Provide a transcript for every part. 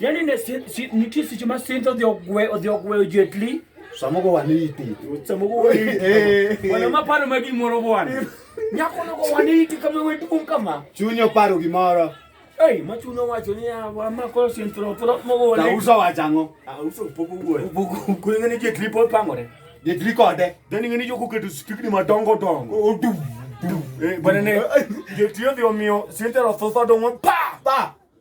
Yaani ne si, si, nitie seche ma sinth odhi ogwe odhi ogweyo jetli samogo waniti samogo waniti eh. wana maparo ma gimoro bwana nyako nogo waniti kama weduong kama chunyo paro gimoro Ei, ma chuno wacho ni wa ma ko sin tro tro mo go ne. Uso wacho ang'o? Ah, uso pogo go. Pogo ko ngene je triple pangore. Je tri kode. Dani ngene jo ko keto stikni madongo dongo. Odu. Eh, bana ne. Je tri odhi omiyo sin tro tho tho dongo pa pa.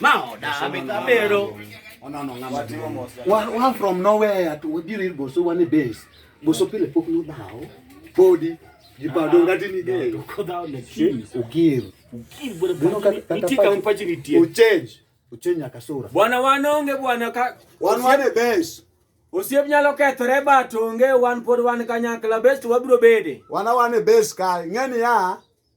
Maoda abero. Ona no ngama. Wa wa from nowhere to wabiri boso wane base. Boso pile pok no dawo. Body jipado ngati ni de. Ko dawo ne ki. Ugir. Ugir bwana bwana. Nitika mpachi ni tie. Uchange. Uchange akasura. Bwana wanonge bwana ka. Wan wane base. Osiep nyalo kethore but onge wan pod wan kanyakla best wabiro bede. Wana wane base ka ng'eni ya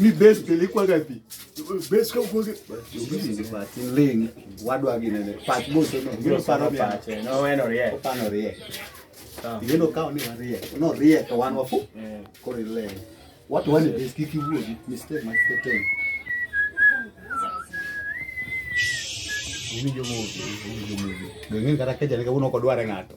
mi base pele kwa gapi base kwa kwa ni patin ling wadwa gi nene pat mo so no gino paro pat no eno rie pano rie gino kao ni rie no rie to wan wafu koro ile watu wani base kiki wuogi mistake ma teteng Ini jomo, ini jomo. Dengan kata kerja, ini kamu nongkrong dua orang atau?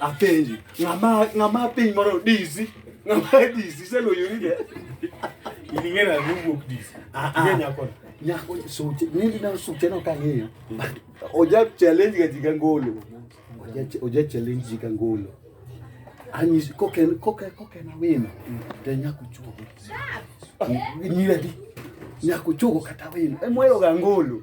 Apenji, ng'ama ng'ama piny moro dizi, ng'ama dizi seloyo ni de. Ilingera ni wuok dizi. Ah, ah. Ng'e nyako. Nyako suche, nili na suche no kang'iyo. Oja challenge ga jiga ngolo. Oja oja challenge jiga ngolo. Anyis koken koken koken awino. Te nyako chuo. Nyira di. Nyako chuo kata wino. Emwero ga ngolo.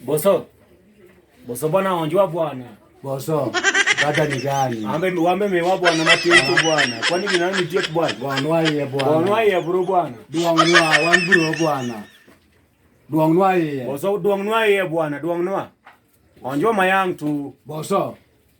Boso. Boso bwana onjwa bwana. Boso. Dada ni gani? Ambe wambe mewa bwana matiento bwana. Kwani ni nani tiet bwana? Bwana waye bwana. Bwana waye bro bwana. Duang nwa wan bro bwana. Duang nwa ye. Boso duang nwa ye bwana, duang nwa. Onjo mayang tu. Boso.